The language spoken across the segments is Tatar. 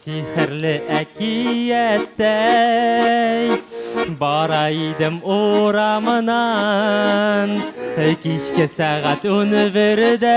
Сихерле әкияттәй Бара идем урамынан Кичке сәгать уны бердә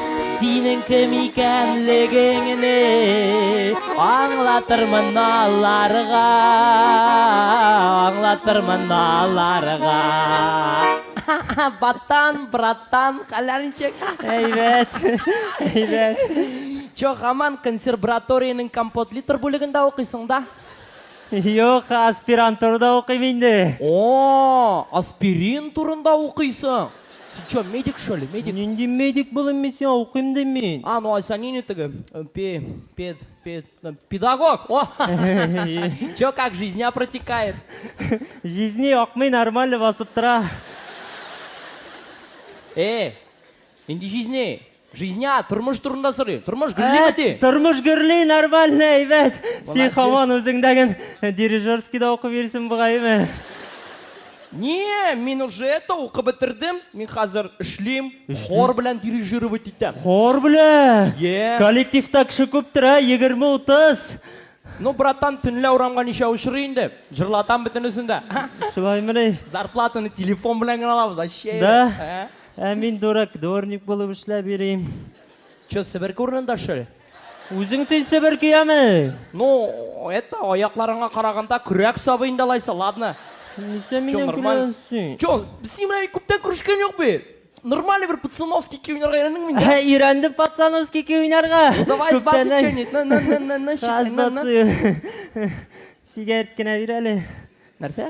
Синең кем икәнлегеңне аңлатырмын аларга, аңлатырмын аларга. Баттан, браттан, хәлләр ничек? Әйбәт, әйбәт. Чо, хаман консерваториянең компотлитор бүлегендә укыйсың да? Юк, аспирантурада укыйм инде. О, аспирин турында укыйсың. Син чё, медик что ли, медик? Нинди медик булыйм мин сиңа, укыйм дим мин. А, ну Ася нинди теге, пе, пед, пед, педагог, о! Чё, как жизня протекает? Жизни акмый, нормально басып тора. Э, нинди жизни? Жизня, тормыш турында сорыйм. Тормыш гөрлиме ди? Тормыш гөрли, нормально, әйбәт. Син хаман үзеңдәген дирижерскийда укып йөрисең бугайымы? Не, мин уже это укып бетердем. Мин хәзер эшлим, хор белән дирижировать итәм. Хор белән? Е. Коллективта кеше күптер, ә? 20-30. Ну, братан, төнлә урамга ничә очрый инде? Җырлатам бөтенесен дә. Шулаймыни? Зарплатаны телефон белән генә алабыз, аче. Да? Ә мин дурак, дворник булып эшләп йөрим. Чё, себерке урынында, что ли? Үзең син себерке яме? Ну, это, аякларыңа караганда көрәк сабый инде алайса, ладно. Нисә миннән көләсең? Чё, без синең белән күптән күрешкән юк бит. Нормальный бер пацановский көй уйнарга өйрәндеңме инде? Ә, өйрәндем пацановский көй уйнарга. Давай сбаци чөнит. На, на, на, на, на, Сигарет кенә бир әле. Нәрсә?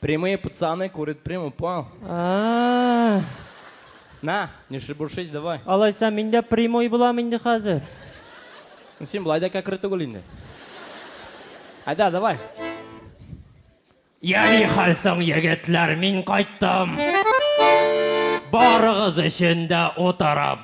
Прямые пацаны курят прямо по. А. На, не шебуршись, давай. Алайса мин дә прямой булам инде хәзер. Ну, син былай да кәкре түгел инде. Айда, давай. Я ни хәл соң, егетләр, мин кайттым. Барыгыз өчен дә утырам.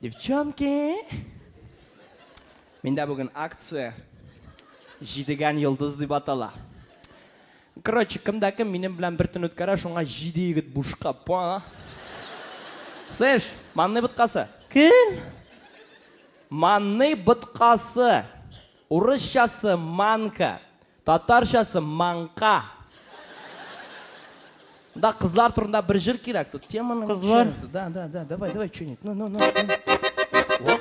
Девчонки! Миндә бүген акция. Җидегән йолдыз дип атала. Короче, кем дә кем минем белән бер төн үткәрә, шуңа җиде егет бушка, поняла? Слышь, манный боткасы! Кем? Манный боткасы! Урысчасы, манка, татарчасы, маңка. Монда кызлар турында бер җыр кирәк, тут теманы Кызлар. чөйәсез. Да, да, да, давай, давай, чөнит. Ну, ну, ну. ну.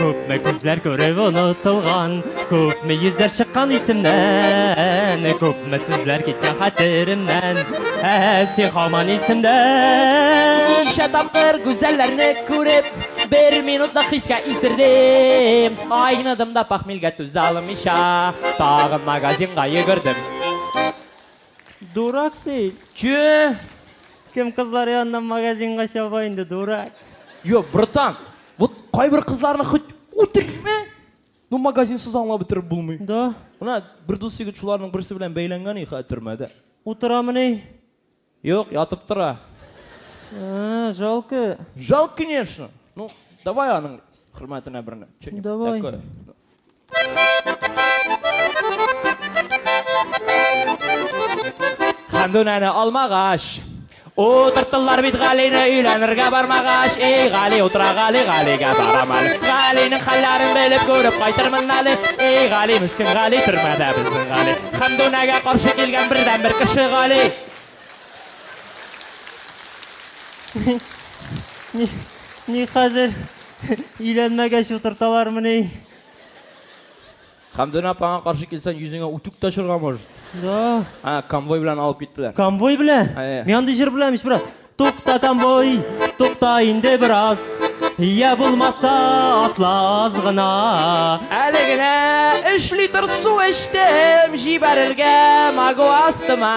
Күпме күзләр күреп онытылган, күпме йөзләр чыккан исемнән, күп Ме сүзләр киткән хәтеремнән Ә син хаман исемдә Ничә тапкыр гүзәлләрне күреп Бер минутлык хискә исердем Айныдым да пахмилгә түзә алмыйча Тагын магазинга йөгердем Дурак син, чү! Кем кызлар яныннан магазинга чаба инде, дурак. Йо, братан, вот кайбер кызларны хоть үтерме? Ну магазинсыз аңлап бетереп булмый. Да. Менә бер дус егет шуларның берсе белән бәйләнгән и хәзер төрмәдә. Утырамыни? Юк, ятып тора. А, жалко. Жалко, конечно. Ну, давай аның хөрмәтенә берне. Что-нибудь Давай. такое. Хәмдүнәне алмагач. Утырттылар бит Галине өйләнергә бармагач, эй Гали утыра Гали, Галигә барам әле. Галинең хәлләрен белеп күреп кайтырмын әле. Эй Гали, мескин Гали, төрмәдә безнең Гали. Хәмдүнәгә каршы килгән бердән бер кеше Гали. Ни, ни хәзер, өйләнмәгәч утырталармыни? Хәмдүнә апаңа каршы килсәң, йөзеңә үтүк тә очырга может. Да. Ә, конвой белән алып киттеләр. Конвой белән? Әйе. Мин андый җыр беләм ич, брат. Тукта конвой, тукта инде бераз. Я булмаса, атла аз гына. Әле генә өч литр су эчтем, җибәрергә магу астыма.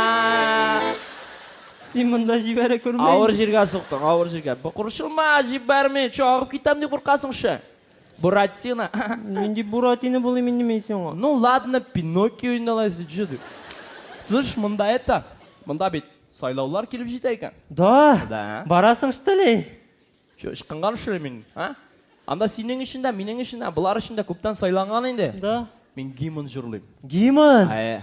Син монда җибәрә күрмә. Авыр җиргә суктың, авыр җиргә. Борчылма, җибәрмим, чагып китәм дип куркасың шә. Буратино. Нинди Буратино булыйм инде мин сиңа? Ну ладно, Пиноккио инде алайса, җыды. Слышь, монда это, монда бит сайлаулар килеп җитә икән. Да? Да. Барасың, что ли? Чё, ычкынган что ли мин, а? Анда синең өчен дә, минең өчен дә, болар өчен дә күптән сайланган инде. Да. Мин гимн җырлыйм. Гимн? Әйе.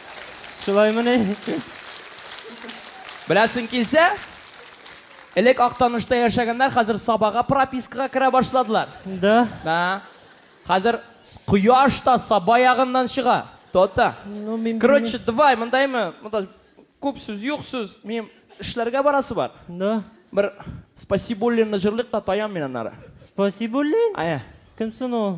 Шулаймыни? Беләсең килсә, элек Актанышта яшәгәннәр хәзер Сабага пропискага керә башладылар. Да? Да. Хәзер кояш та Саба ягыннан чыга. То-то. Ну, мин Короче, белмим. давай, мондаймы? Монда күп сүз, юк сүз. Минем эшләргә барасы бар. Да? Бер Спасибуллинны җырлыйк та таям мин аннары. Спасибуллин? Әйе. Кем соң ул?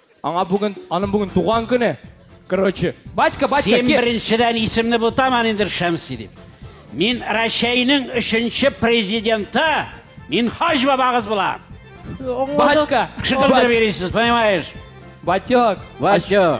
Аңа бүген, аның бүген туган көне. Короче, батька, батька, Син кил. беренчедән исемне бутаман инде Шәмси дип. Мин Рәчәйнең өченче президенты, мин хаҗ бабагыз булам. Батька, Кеше белдереп йөрисез, понимаешь? Батек, Батек. ачуланма.